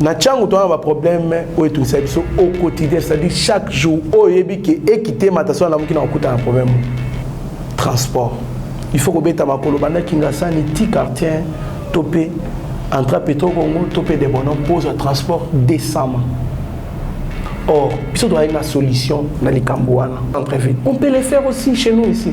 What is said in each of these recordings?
na ntango toza na baproblème oyo etungisa biso au quotidien c'est-à-dire chaque jour oyo oyebi ke ekitema ta so alamuki na kokuta na problème transport il faut kobeta makolo banda kingasani ti quartier to mpe entra petro congo to mpe debono mpo ozwa transport décemment or biso tozalaki na solution na likambo wana entrevue on peut le faire aussi chez nous ici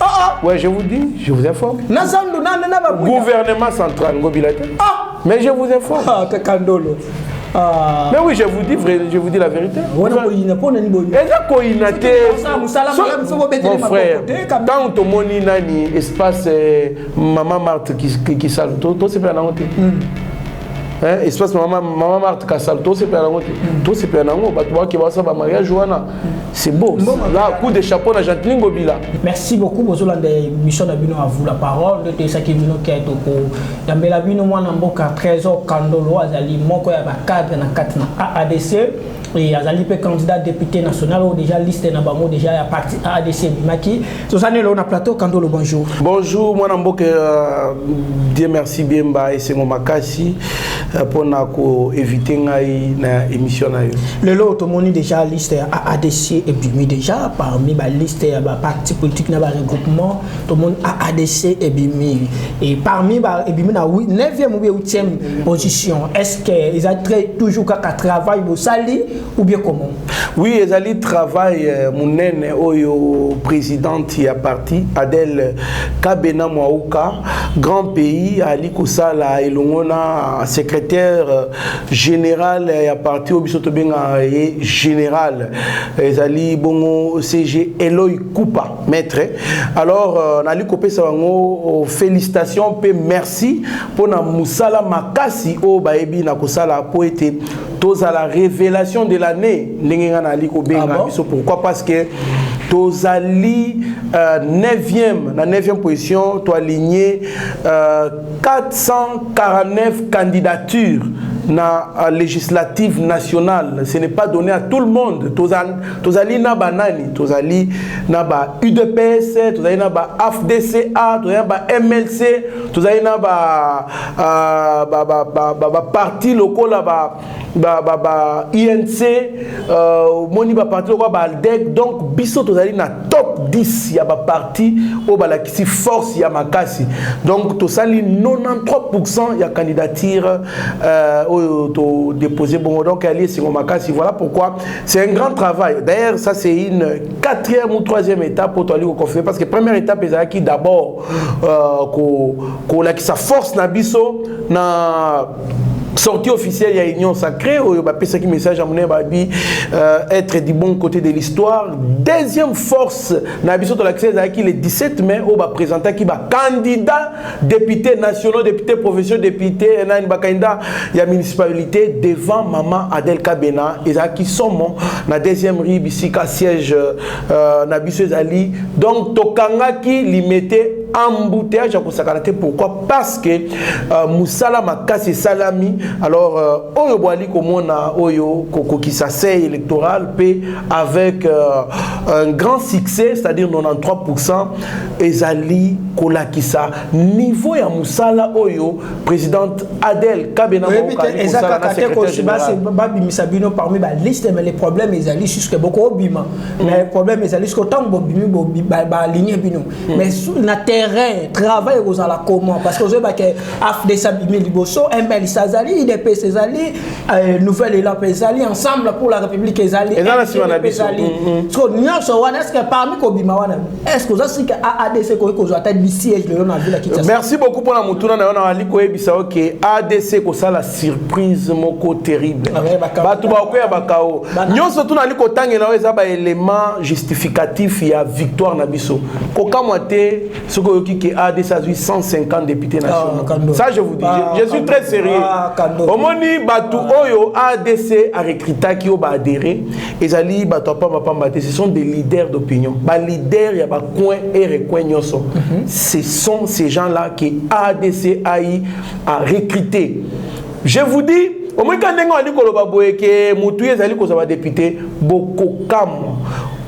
Ah ah. Ouais, je vous dis, je vous informe. Na zandu na na ba Gouvernement central ngobila te. Ah, mais je vous informe. Ah, kakandolo. Ah. Mais oui, je vous dis vrai, je vous dis la vérité. Wana koyina pona ni boyi. Eza koyina te. Mon frère, tant to moni nani espace euh, maman Marthe qui qui, qui sale to to se pena na honte. Hmm. espace mama mama marte kasal tosepela nango te tosepela nango bato bakeba basala bamariage wana C'est beau. Bon, Là, coup de chapeau à Jacqueline Gobila. Merci beaucoup. Bozola des missions de Bino à vous la parole. De Tessaki Bino qui est au cours. Yambela Bino, moi, Namboka, Trésor, Kandolo, Azali, Moko, Yaba, cadre, na 4, na AADC. Et Azali, pe candidat député national, ou déjà liste, na bango, déjà, ya parti AADC, Bimaki. tozali eloo na plateau kandolo bonjour bonjour mwana mboka euh, dieu merci biemba esengo makasi euh, mpo na koevite ngai na émission na yo lelo tomoni déjà liste ya aadc ebimi déjà parmi baliste ya baparti politique na baregroupement tomoni aadc ebimi e parmi ebimi na 9e ou 8e position est ce que eza très toujours kaka travail bosali ou bien comment oui ezali travail euh, monene oyo présidente ya parti adele kabena mwauka grand pays ali kosala elongo na secrétaire euh, général ya parti oyo biso tobengaka ye général ezali bongo cg eloi kupa maître alors euh, nali kopesa bango félicitation mpe merci mpona mosala makasi oyo bayebi na kosala mpo ete tozala révélation de l'année ndenge ngai nayali kobenga ah biso pourquoi parce que tozali euh, 9e na 9e position toaligne euh, 449 candidatures na euh, législative nationale ce n'est pas donné à tout le monde tozali, tozali na banani tozali na ba udps tozali na ba afdca tozali na ba mlc tozali na ba baparti euh, ba, ba, ba lokola ba, ba, ba, ba inc euh, omoni baparti lokola baaldec donc biso tozali na top 10 ya baparti oyo balakisi force ya makasi donc tosali 93 pourcent ya candidature euh, oyo todépose bongo donc yali esengo makasi voilà pourquoi c'est un grand travail d'ailleurs ça c'est une quatrième ou troisième étape oyo toali koconfirme parce que première étape ezalaki d'abord euh, sa force na biso na sortie officielle ya union sacrée oyo bapesaki message ya monene babi euh, être du bon côté de l'histoire deuxième force na biso tolakisa ezalaki le 17 mai oyo baprésentaki bacandidat député nationaux député provinciaux député nani bacandidat ya municipalité devant mama adel kabena ezalaki somo na deuxième rue bisika siège euh, Euh, na biso ezali donc tokangaki limete embouteillage ya kosakana te pourquoi parce que euh, mosala makasi esalami alors euh, oyo boali komona oyo kokokisa sei électoral mpe avec euh, un grand succès c'est-à-dire 93 pourcent ezali kolakisa niveau ya mosala oyo présidente Adèle Kabena Oyebi te Mokali eza kosala na kaka te secrétaire kosi basi général. babimisa bino parmi ba liste mais le problème ezali jusque boko obima mais le problème ezali jusque ntango bobimi bobi- ba- baaligner bino mais su- na terrain travail ekozala comment parce que ozoyeba ke afdes abimi liboso mls azali idps ezali euh, nouvelle élan mpe ezali ensemble pour la république ezali Eza na nsima na NDP biso. ezali. Mm, mm. so nyonso wana est ce que parmi kobima wana Est-ce que oza sika AADC ekoki kozwa ata bi siège lelo na ville ya Kinshasa? Merci beaucoup pona motuna na yo nazali koyebisa yo ke ADC ekosala surprise moko terrible. Ah, Bato bakoya bakao. Nyonso tu nazali kotangela yo eza ba élément justificatif ya victoire na biso. Kokamwa te soki oyoki ke ADC azwi 150 députés ah, nationaux. Ça je vous dis, ah, je, je suis très sérieux. Omoni bato oyo ADC a recrutaki oyo ba adhéré, ezali bato ya pambapamba te ce sont des leaders d'opinion baleader ya bacoin et recoin nyonso mm -hmm. ce sont ces gens là que adc ai a recruté je vous dis omoika ndenge wandi koloba boye ke motu ye ezali kozwa badepute bokokamwa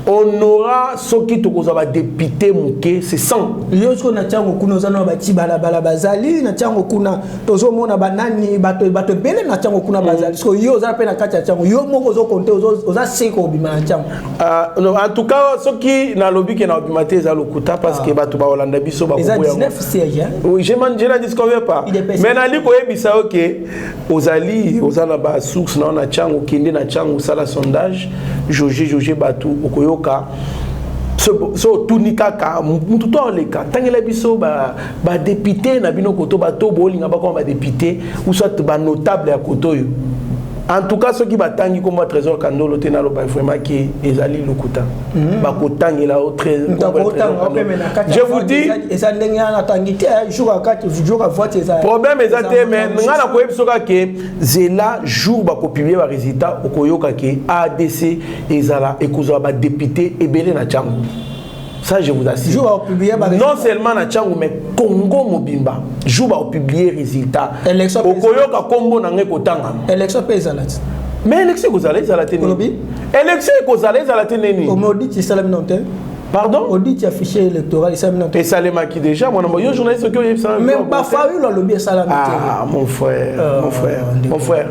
honora soki tokozwa badepute moke se sans yo sikoyo na ntango kuna oza na bati balabala bazali na ntango kuna tozomona banani bato bato ebele na ntango kuna bazali siko yo oza mpe na kati ya ntango yo moko ozokonte oza se kobima na ntango ah, en tout cas soki nalobi ke na obima te eza lokuta parce que ah. bato baolanda biso bakojela disconvient pas mais nali koyebisa yo ke ozali oza na basource nao na ntango okende na ntango osala sondage jauge jauge bato okoyoka so otuni kaka motu to oleka ntangela biso ba député na bino koto bato bolinga bakoma ba député ou soit ba notable ya koto oyo en tout cas soki batangi nkombo ya trésor kandolo te naloba vraiment ke ezali lokuta hmm. bakotangela o je vous dis eza ndenge wana atangi te eh, jour akati jour avoite eza problème eza te mais ngai nakoyebi so kaka ke zela jour bakopiblie baresultat okoyoka ke adc ezala ekozala badepute ebele na ntango Ça, je vous assure. Non seulement na Tchangou, mais Congo Mobimba. Jour va publier résultat. Élection. Okoyoka Combo n'a kotanga. Élection paysanne. Mais élection vous allez à la télé. Élection vous allez à la télé. Au maudit, c'est ça la minute. Pardon Audit ya fichier électoral esalami na Et salemaki déjà mwana yo journaliste oki oyebisa Mais ba Fayulu alobi esalami te. Ah mon frère, euh, mon frère, mon frère.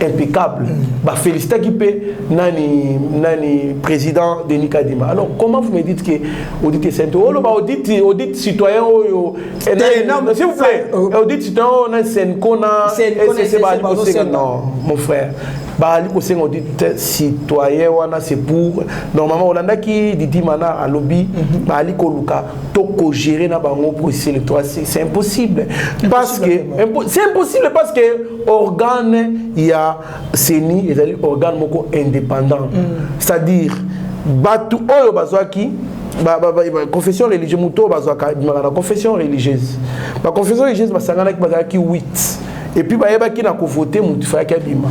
impeccable ba félicita ki pe nani nani président Denis Kadima alors comment vous me dites que audit sainte oh ba audit audit citoyen oyo eh, non s'il vous plaît euh, euh, audit citoyen oh, na Senko na SCC ba non mon frère baali kosenga odi citoyen wana c'est pour normalement olandaki didi mana alobi mhm. baali koluka to cogérer na bango processus électoral c'est impossible parce que c'est impossible parce que organe ya CENI ezali organe moko indépendant mm. c'est-à-dire bato oyo bazwaki confession religieuse moto oyo bazwaka ebimaka na confession religieuse baconfession religieuse basanganaki bazalaki 8 epuis bayebaki na kovote moto ifalaki abima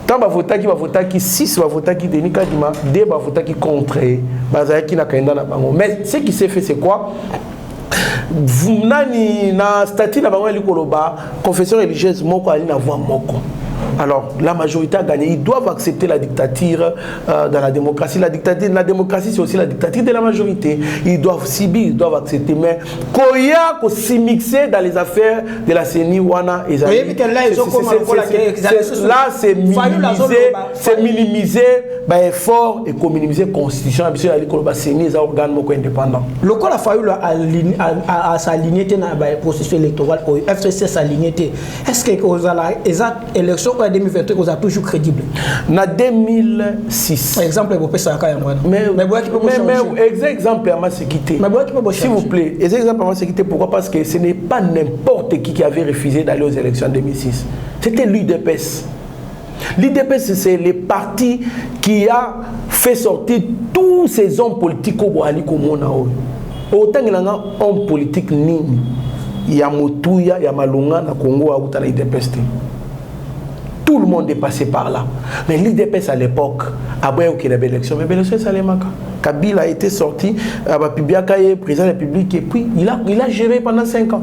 ntango bavotaki bavotaki 6 bavotaki denis kadima 2 bavotaki contre ye bazalaki na kanda na bango mais ce qui s'est fait c'est quoi nani na statut na bango yali koloba confession religieuse moko ali na voix moko Alors, la majorité a gagné. Ils doivent accepter la dictature euh, dans la démocratie. La dictature, la démocratie, c'est aussi la dictature de la majorité. Ils doivent subir, ils doivent accepter. Mais Koya, qu'on s'y mixer dans les affaires de la CENI wana ezali là c'est minimiser c'est minimiser ba effort et communimiser constitution ya biso ezali koloba CENI eza organe moko indépendant lokola Fayulu asaligné te na ba processus électoral oyo FCC asaligné te est ce que kozala eza élection oyo ya 2023 ekozala toujours crédible na 2006 exemple ebopesaka yango wana mais mais boyaki mpe mais mais bochanger eza exemple ya maseki te mais boyaki mpe s'il vous bochanger plaît eza exemple ya maseki te pourquoi parce que ce n'est pas n'importe qui qui avait refusé d'aller aux élections en 2006 c'était l'udps l'udps c'est le parti qui a fait sortir tous ces hommes politiques oyo boali komona oyo Otangela nga homme politique nini ya motuya ya malonga na Congo auta na UDPS te. Tout le monde est passé par là. Mais l'UDPS à l'époque, aboya okela ba élection, mais ba élection esalemaka. Kabila était sorti, abapibiaka ye président de la République et puis il a, il a géré pendant 5 ans.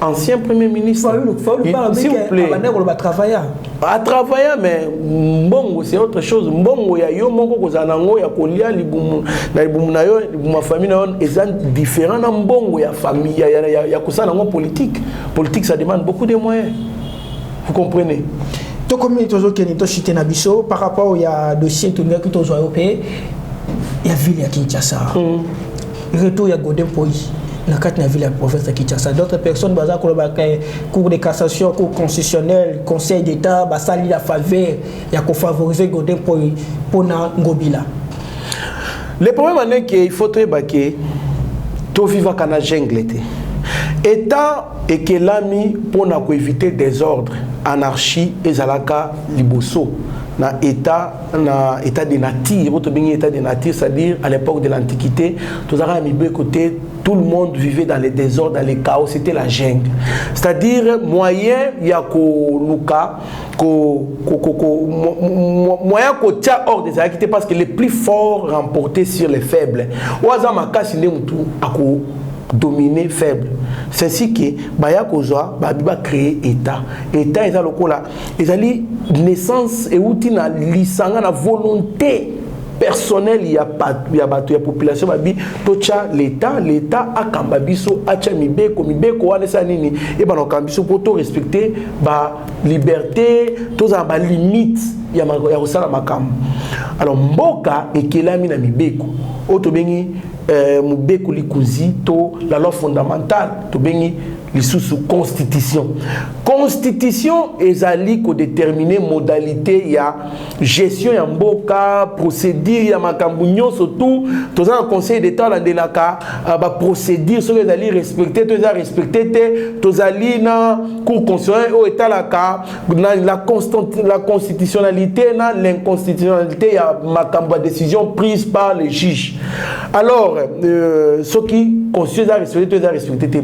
ancien premier ministre s'il vous plaît a travailler mais mbongo c'est autre chose mbongo ya yo moko kozala na yango ya kolia libumu na libumu na yo libumu ya famille na yo eza différent na mbongo ya famille ya, ya, ya, ya kosala yango politique politique ça demande beaucoup de moyens vous comprenez tokomi tozokende toshite na biso par rapport ya dossier tolingaki tozwa yo mpe ya ville ya kinshasa mm. retour ya Godin Poyi na kati na ville ya province ya Kinshasa d'autres personnes baza koloba ke cour de cassation cour constitutionnelle conseil d'état basali la faveur ya kofavoriser Godin Poyi mpo na Ngobila le problème en est que il faut toyeba ke tovivaka na jungle te état ekelami mpo na koevite désordre anarchie ezalaka liboso na état na état de nature oyo tobengi état de nature c'est-à-dire à l'époque de l'antiquité tozalaka na mibeko te tout le monde vivait dans le désordre dans le chaos c'était la jungle c'est-à-dire moyen ya koluka ko, ko, ko, ko, moyen kotia ordre ezalaki te parce que les plus forts remportaient sur les faibles oyo aza makasi nde motu ako dominer faible c'est ainsi que baya kozwa babi bacree état état eza lokola ezali naissance euti na lisanga na volonté personnel ya bato ya, bato ya population babi totya leta leta akamba biso atya mibeko mibeko wana esala nini ebana kokamba biso mpo torespecte baliberté tozala na balimite ya, ya kosala makambo alors mboka ekelami na mibeko oyo tobengi eh, mobeko likonzi to la loi fondamentale tobengi lisusu constitution constitution ezali kodetermine modalite ya gestion ya mboka procédure ya makambo nyonso tout toza na conseil d'état alandelaka euh, baprocédure soki ezali respecte to eza respecte te tozali na cour constitutionnel oyo etalaka na la, la constitutionnalité na l'inconstitutionnalité ya makambo ya décision prise par le juge alors euh, soki constitution eza respecte to eza respecte te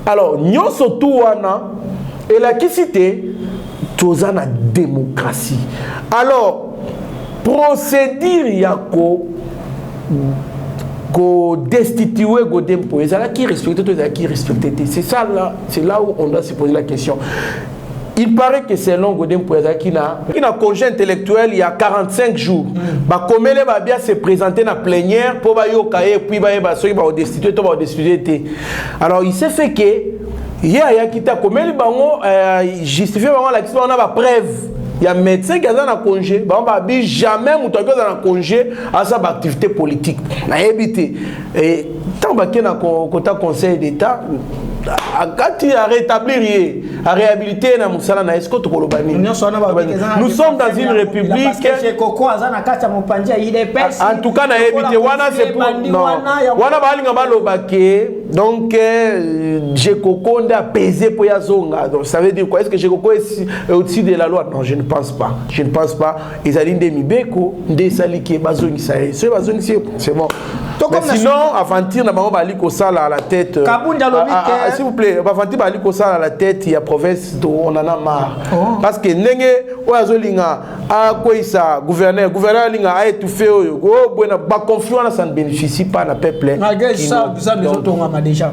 alors nyonso tu wana elakisi te toza na démocratie alors procédure ya ko kodestitue godempo ezalaki respecte to ezalaki respecte te c'est ça là c'est là où on doit se poser la question Il paraît que selon Godin Mpuya azalaki na ki na congé intellectuel ya 45 jours mm. bakomele babia se présenter na plénière mpo bayoka ye puis bayeba soki baodestitue to baodestitue te alors il s'est fait que ye ayaki te akomeli bango euh, justifie bango alakisi bango na bapreuve ya médecin ki aza na congé bango babi jamais moto akoki aza na congé aza baactivité politique nayebi te ntango bake na kota conseil d'état akati a rétablir ye a réhabilité ye na mosala na ye siko tokoloba nini nous sommes dans une république en tout cas nayebi te wana c'est pour non wana balinga baloba ke donc euh, jekoko nde apese mpo ya zonga donc ça veut dire quoi est ce que jekoko est au-dessus de la loi non je ne pense pas je ne pense pas ezali nde mibeko nde esali ke bazongisa ye soki bazongisi ye c'est bon mais sinon aventure na bango bazali kosala à la tête euh, kabunda lobi ah, ah, ah, s'il vous plaît baventure bazali kosala à la tête ya province to on en a marre oh. parce que ndenge oyo azolinga akweyisa gouverneur gouverneur alinga aétouffe oyo kobwena oh, baconflit wana ça ne bénéficie pas na peuple malgré ça bizotongama déjà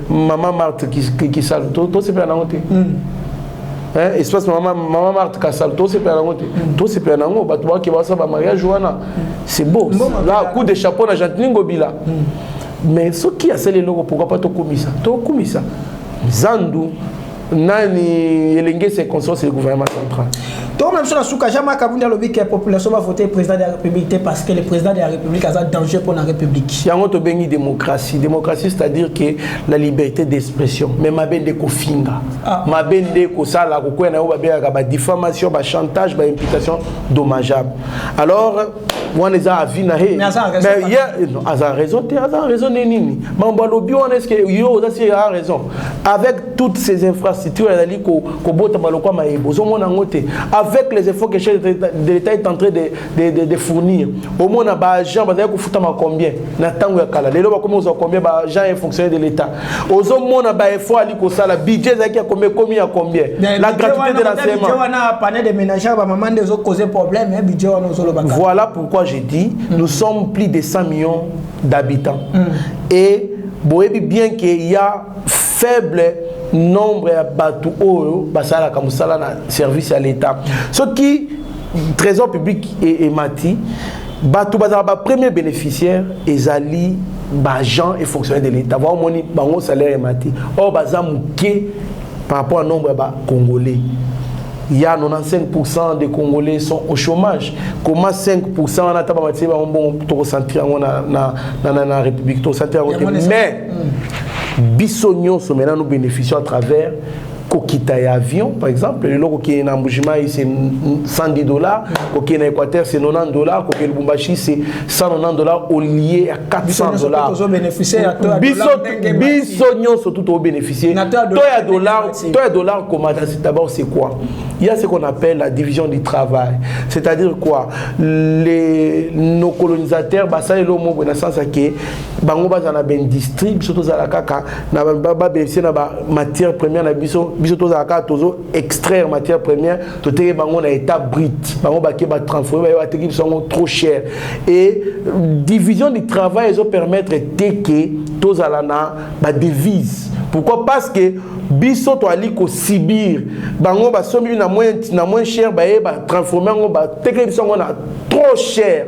Maman Marthe Kisalu, tout c'est bien nango te. Hmm. Hein, espace maman maman Marthe Kasalu, tout c'est bien nango te. Hmm. Tout c'est bien nango, bato ba ke ba sa ba mariage wana. Hmm. C'est beau. Là, coup de chapeau na Gentini Ngobila. Mais ce qui a scellé logo pourquoi pas to kumisa? To kumisa. Zandu nani elenge circonstance ya gouvernement central tokoma biso na suka jean marc abundi alobi ke population bavote président de la république te parce que le président de la république aza danger mpo na république yango tobengi démocratie démocratie c'est à dire que la liberté d'expression mais mabe nde kofinga ah. mabe nde kosala kokwea na yango babengaka badifamation bachantage baimplication dommageable alors wana eza avis na ye aza raison te aza raison nde nini mambo alobi wana eske yo oza si a raison avec toutes ces infrastructures ezali kobotama lokwa mayebe ozomona yango te avec les efforts que chef de l'état est en train de, de, de, de fournir omona baagent bazali kofutama combien na ntango ya kala lelo bakomi kozwa combien baagent ya fonctionnaire de l'état ozo mona ba effort ali kosala budget ezalaki ya combien komi ya combien la gratuité de l'enseignement budget wana panel de ménage ba maman nde ezo causer problème hein budget wana ozo loba voilà pourquoi je dis mm. nous sommes plus de 100 millions d'habitants mm. et boyebi bien que y a faible nombre ya bato oyo basalaka mosala na service ya l'état soki trésor public emati e bato bazalaka bapremier bénéficiaire ezali ba agents et fonctionnaires de l'État ba moni bango salaire emati or baza muke par rapport à nombre ya ba congolais il y a 95% des Congolais sont au chômage. Comment 5% on a tabamati ba bon to concentrer on na na na na République to concentrer mais biso nyonso maintenant nous bénéficions à travers kokita ya avion par exemple lelo kokende na mbujimai se 110 dollars kokende na équateur se 90 dollars kokende lubumbashi se 190 dollars olie ya 400 dollars biso nyonso tu tobénéficie to ya dollar to ya dollar komata d'abord c'est quoi il y a ce qu'on appelle la division du travail c'est-à-dire quoi les nos colonisateurs basali lo moko na sens que bango bazana ben district biso tozala kaka na babaisse na ba matière première na biso biso tozala kaka tozo extraire matière première toteki bango na état brut bango bake batransforme baye bateki biso yango trop cher et division du travail ezo permettre te ke tozala na badevise pourquoi parce que biso toali kosibir bango basombi na moins cher baye batransforme yango bateki biso yango na trop cher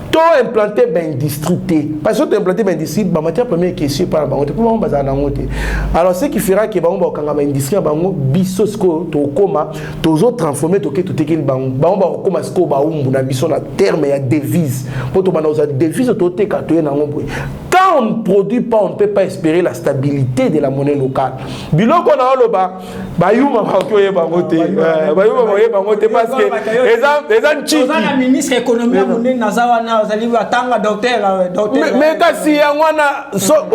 to implante baindustrie te parce que to implante baindustrie bamatière première ekesi epai na bango te mpo bango bazala nango te alors ce qui fera ke bango bakokanga baindustrie ya bango biso sikoyo tokokoma tozo transforme toke totekeli bango bango bakokoma sikoyo baumbu na biso na terme ya devise mpo tobanda kozwa devise toteka toye nango boye quand on ne produit pas on ne peut pas espérer la stabilité de la monnaie locale biloko na oloba bayuma bakoki oyeba yango te eh, bayuma bakoyeba yango te parce que eza ncikimais ministre économie ya monene naza wana ozali atanga docteur euh, mais kasi yango wana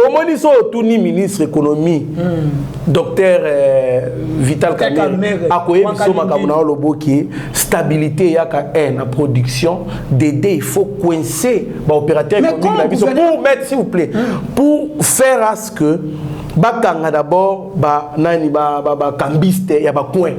omoni so otuni ministre économie hmm. docteur euh, vital kamere akoyebi so makambo na yo loboki stabilité eyaka un na production dede il faut coincer baopérateur économique na biso pour mettre s'il vous plaît hmm. pour faire que bakanga d'abord ba nani ba ba, ba cambiste ya ba coin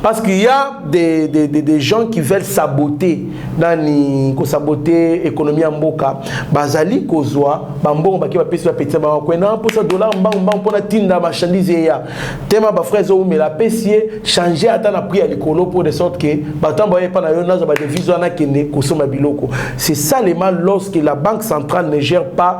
parce qu'il y a des, des, des, des gens qui veulent saboter nani ko saboter économie ya mboka bazali kozwa bambongo bake bapesi bapetisa bango kwe na mposa dollar mbangu mbangu mpo natinda marchandise eya tema bafrai ezoumela apesi ye change ata na prix ya likolo mpo de sorte que bato baye epa na yo nazwa badevise wana akende kosomba biloko c'est ça lema lorsque la banque centrale ne gère pas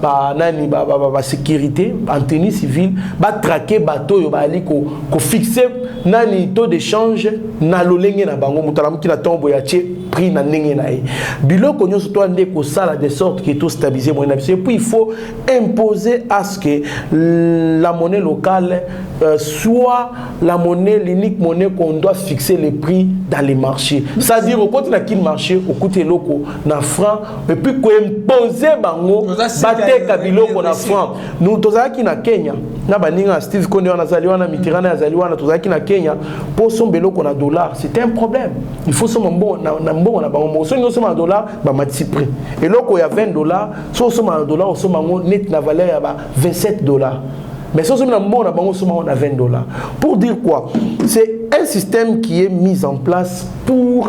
ba nani ba, ba, ba, ba sécurité en tenue civile ba traquer bato oyo baali ko, ko fixer nani taux de change na lolenge na bango moto alamuki na ntongo boye atie prix na ndenge na ye biloko nyonso to ande kosala de sorte que to stabiliser moyen na biso et puis il faut imposer à ce que la monnaie locale euh, soit la monnaie l'unique monnaie qu'on doit fixer les prix dans les marchés c'est à dire okoti na kin marché okuti eloko na franc et puis koimpose bango bateka biloko na franc nous tozalaki na kenya na baninga ya steve konde wana azali wana mitirana azali wana tozalaki na kenya mpo osomba eloko na dollar c'était un problème il faut osomba mbongo na, na mbongo na bango moko soki osomba na dollar bamatisi prix eloko ya 20 dollar soki osomba na dollar osomba yango neti na valeur ya ba 27 dollar mais soki osombi na mbongo na bango osomba yango na 20 dollar pour dire quoi c'est un système qui est mis en place pour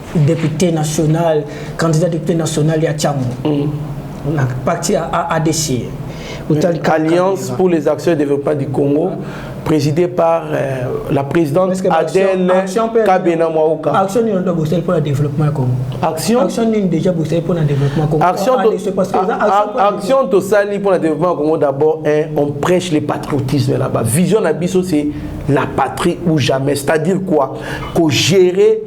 depute national candidat depute national ya chango mm. na parti ya adc alliance pour les actions et développement du congo ah. présidée par euh, la présidente adèle kabena mwaoka action nini ondo bosali mpo na développement ya congo action action nini déjà bosali mpo na développement congo action action tosali mpo na développement ya congo d'abord hein, on prêche le patriotisme là-bas vision na biso c'est la patrie ou jamais c'est-à-dire quoi ko gérer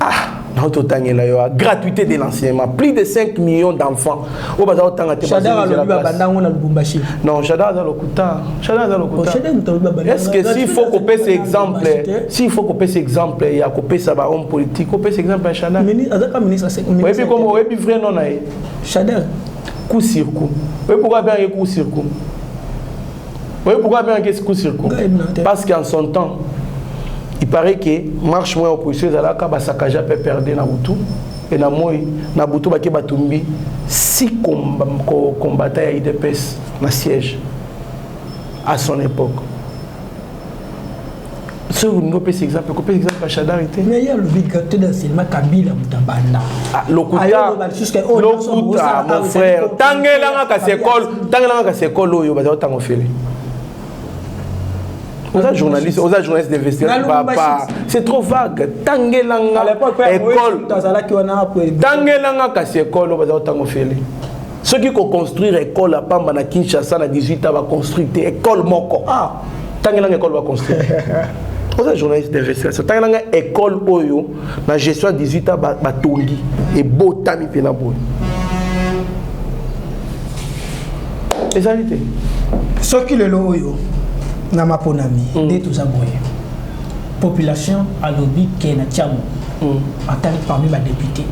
ah nao totangela yo gratuité de l'enseignement plus de 5 millions d'enfants oyo baza kotanga te babandango na lubumbashi non shadar aza lokuta shadar aza lokuta oh, est ce que s'il faut kopesa exemple s'il faut kopesa exemple ya kopesa bahomme politique kopesa exemple ya shadar oyebi komo oyebi vrai nom na ye shadar coup sur coup oyebi pourquoi abengaki coup sur coup Oui, pourquoi bien que coup sur coup Parce qu'en son temps, il paraît que marche moins opposition ezalaka basakaja mpe perde na butu e na moi na butu bake batumbi si combattant ya idps na siège à son époque soki olingi opesa exemple kopesa exemple ya shadari te mais ye alobi gate na sinema kabila moto abanda ah, lokuta mon frère tangelanga kasi ekole tangelanga kasi ekole oyo bazali otanga ofele oza journaliste oza journaliste d'investigation papa c'est trop vague tangelanga ekole tangelanga kasi ekole oyo bazali otanga ofele soki ko construire école ya pamba na Kinshasa na 18 ans ba construire te école moko ah tangela école ba construire oza journaliste d'investigation tangela nga école oyo na gestion ya 18 ans batongi ebotami mpe na boye ezali te soki lelo oyo na maponami mm. nde toza boye population alobi ke na tiamo mm. atali parmi badepute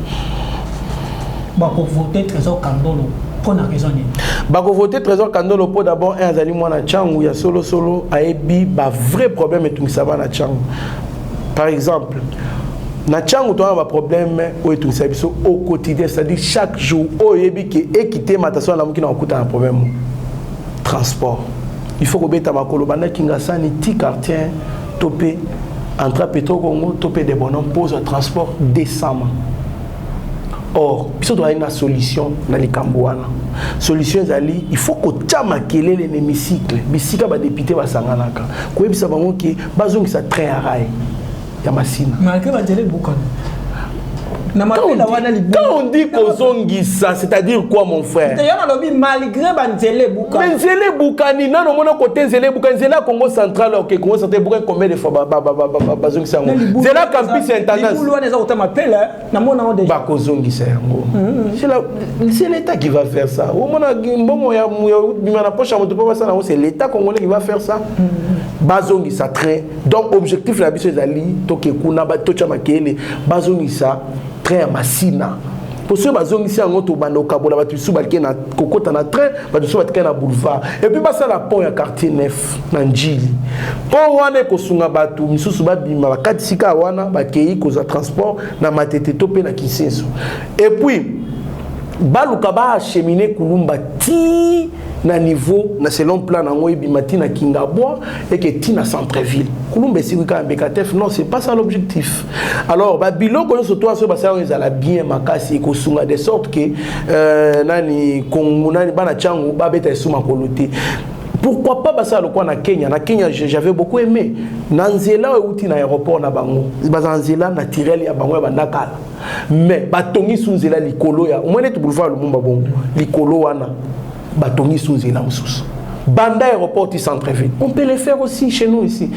Bako voter Trésor Kandolo mpo na raison nini bako voter Trésor Kandolo mpo d'abord un azali mwana Tshangu ya solo solo ayebi ba vrai problème etungisa bana Tshangu par exemple na ntango toza na baproblème oyo etungisa biso au quotidien c'est-à-dire chaque jour oyo oyebi ke ekite matation alamuki na kokuta na problème transport il faut kobeta makolo banda kingasani ti quartier to mpe entra petro congo to mpe debono mpo ozwa transport décemment or biso toyai na solution na likambo wana solution ezali il faut kotya makelele na hémicycle bisika badepute basanganaka koyebisa bango ke bazongisa train ya rail ya masina malgre banzela ebukana quand on dit kozongisa c'est-à-dire quoi mon frère malgré banzela me nzela ebukani nano omona kote nzela ebukani nzela ya congo central oke congo central ebukani combien de fois bazongisa yango nzela ya campus ya intendancebakozongisa yango c'est l'état qui va faire ça omona mbongo ya bima na poche ya moto mpo basala yango c'est l'état congolais qui va faire ça mm-hmm. bazongisa train donc objectif na biso ezali toke kuna totya makele bazongisa train ya masina mpo soki bazongisi yango tobanda kokabola bato misusu balike na kokota na train bato misusu batika na boulevard epuis basala pont ya quartier nef na njili pont wana ekosunga bato misusu babima bakatisi kaka wana bakei kozwa transport na matete to mpe na kinsenso epuis baluka baachemine kulumba ti na niveau na selon plan nango ebima ti na kingabwa eke ti na centreville kulumba esikwi kaka mbekatef non c'est pas ça l'objectif alors ba biloko nyonso to aso basala ezala bien makasi ekosunga de sorte que euh, nani kongo nani bana chango babeta esuma kolo te pourquoi pas basala lokola na kenya na kenya j'avais beaucoup aimé na nzela oyo euti na aéroport na bango baza na nzela naturel ya bango ya bandakala mais batongi su nzela likolo ya omwene ete boulevard lumumba bongo likolo wana batongi su nzela mosusu banda aéroport ti centre ville on peut le faire aussi chez nous ici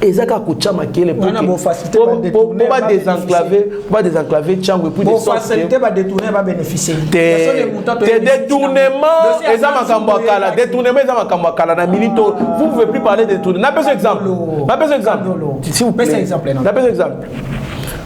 eza kaka kotya makele po ba désenclave ba désenclave tiango epuis te détournement eza makambo ya kala détournement eza makambo ya kala na minute oyo ah. vous pouvez plus parler de détournement napesa exemple napesa exemple napesa exemple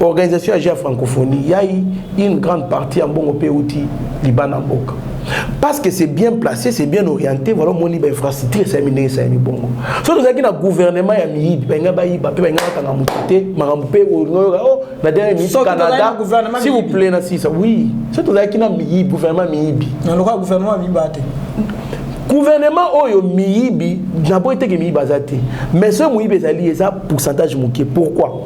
organisation ya ja francophonie yai une grande partie ya mbongo mpe euti libanda mboka parce que c'est bien placé c'est bien orienté voilà omoni bainfrastructure esalemi ndenge esalemi bongo soki tozalaki na gouvernement ya miyibi balinga bayiba mpe balinga bakanga moto te makambo mpe olingoyoka o na dernière minute canada si vous plaît na sisa oui soki tozalaki na miyibi gouvernement miyibi na lokola gouvernement ya miyibi ate gouvernement oyo miyibi naboyi teke miyibi aza te mais soki moyibi ezali eza pourcentage moke pourquoi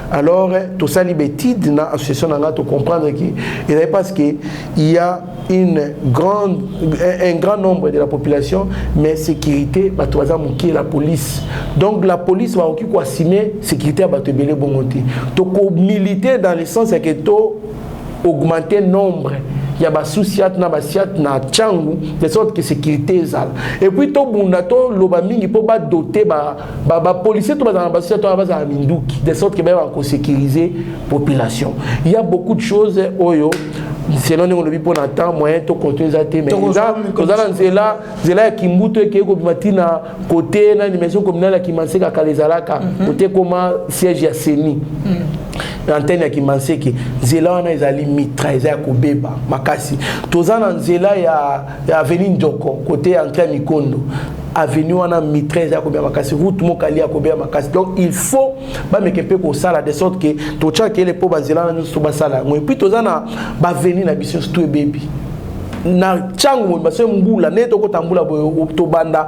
Alors, tosali betide na association na nga to comprendre que ezali parce que il y a une grande un grand nombre de la population mais sécurité bato baza moke la police donc la police bakoki koassume sécurité ya bato ebele bongo te tokomilite dans le sens ya ke to augmenter nombre ya basusiat na basiat na ntango de sorte que sécurité ezala epuis tobunda toloba mingi mpo badote ba ba ba policiers to bazala na basoda to bazala minduki de sorte que bayeba kosécuriser population il y a beaucoup de choses oyo selon ndenge olobi mpo na temps moyen to konto eza te mais toza na nzela nzela ya kimbutu ekei kobima ti na kote nani maison communale ya kimanseka kala ezalaka kote mhm. ekoma siège ya seni mhm. na antenne ya kimanseke nzela wana ezali mitra eza ya kobeba makasi toza na nzela ya ya avenue Njoko côté ya entrée Mikondo avenue wana mitraise ya kobia makasi route mokali ya kobia makasi donc il faut bameke mpe kosala de sorte que totyaka ele mpo banzela na nyonso basala yango epuis toza na baveni na biso surtout ebebi na ntango moyeba se mbula nde tokota mbula boye tobanda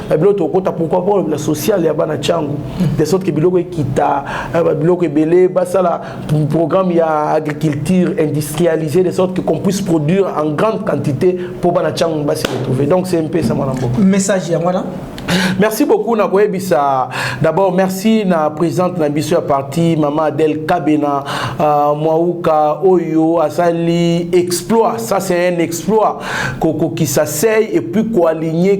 ba biloko tokota pourquoi pas la sociale ya bana changu de sorte que biloko ekita eh, ba biloko ebele basala programme ya agriculture industrialisée de sorte que qu'on puisse produire en grande quantité pour bana changu basi retrouver donc c'est un peu ça mwana mboka message ya mwana merci beaucoup na koyebisa d'abord merci na présidente na biso ya parti mama adel kabena uh, mwauka oyo asali exploit ça c'est un exploit kokokisa sei et puis koaligne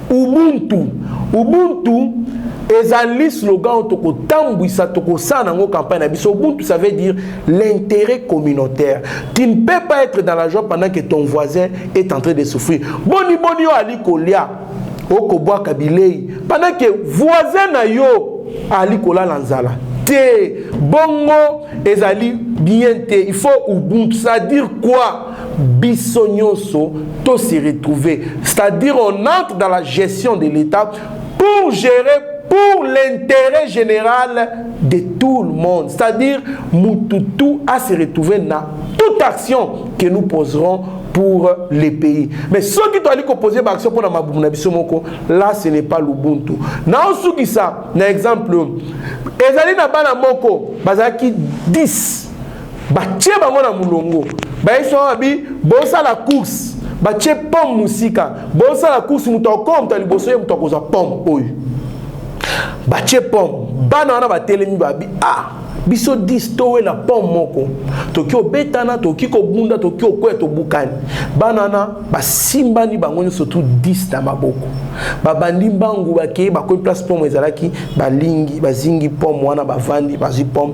Ubuntu. Ubuntu ezali slogan oyo tokotambwisa tokosala nango campagne na biso ubuntu ça veut dire l'intérêt communautaire tu ne peux pas être dans la joie pendant que ton voisin est en train de souffrir boni boni oyo ali kolia okobwaka bilei pendant que voisin na yo ali kolala nzala te bongo ezali bien te il faut ubuntu ça dire quoi biso nyonso to se retrouver c'est-à-dire on entre dans la gestion de l'État pour gérer pour l'intérêt général de tout le monde c'est-à-dire mututu a se retrouver na toute action que nous poserons pour les pays mais ceux qui doivent composer ba action pour la mabumu na biso moko là ce n'est pas l'ubuntu na osukisa na exemple ezali na bana moko bazalaki 10 batie bango na molongo bayesu wana babi bosala course batie pomme mosika bosala course moto akoma moto ya liboso ye moto akozwa pomme oyo batie pomme bana wana batelemi babi a ah, biso 10 towela pomme moko toki obetana toki kobunda toki okwea tobukani bana wana basimbani bango nyonso tu 10 na maboko babandi mbangu bakei bakomi place pomme ezalaki balingi bazingi pomme wana bavandi bazwi pomme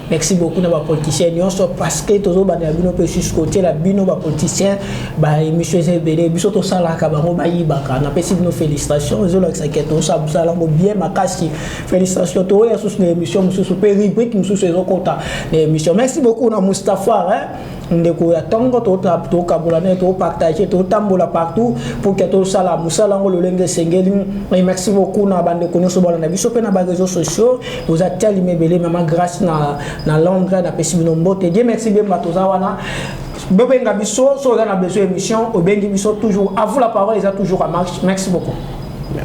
Merci beaucoup na ba politiciens nyonso parce que tozo banda na bino pe susu kotiela bino ba politiciens ba emission eza ebele biso tosalaka bango bayibaka napesi bino félicitation ezolakisa ke tosala yango bien makasi félicitation toya susu na émission mosusu pe rubrique mosusu ezokota na émission merci beaucoup na mustapha hein? ndeko ya ntongo tokabola naye topartage totambola partout pour ke tosala mosala yango lolenge esengeli et merci beaucoup na bandeko nyonso balanda biso mpe na bareseau sociaux oza telime ebele mama grâce na, na londre napesi bino mbote die merci bemba toza wana bobenga biso so oza na besoin émission obengi biso toujours à vous la parole eza toujours à marche merci beaucoup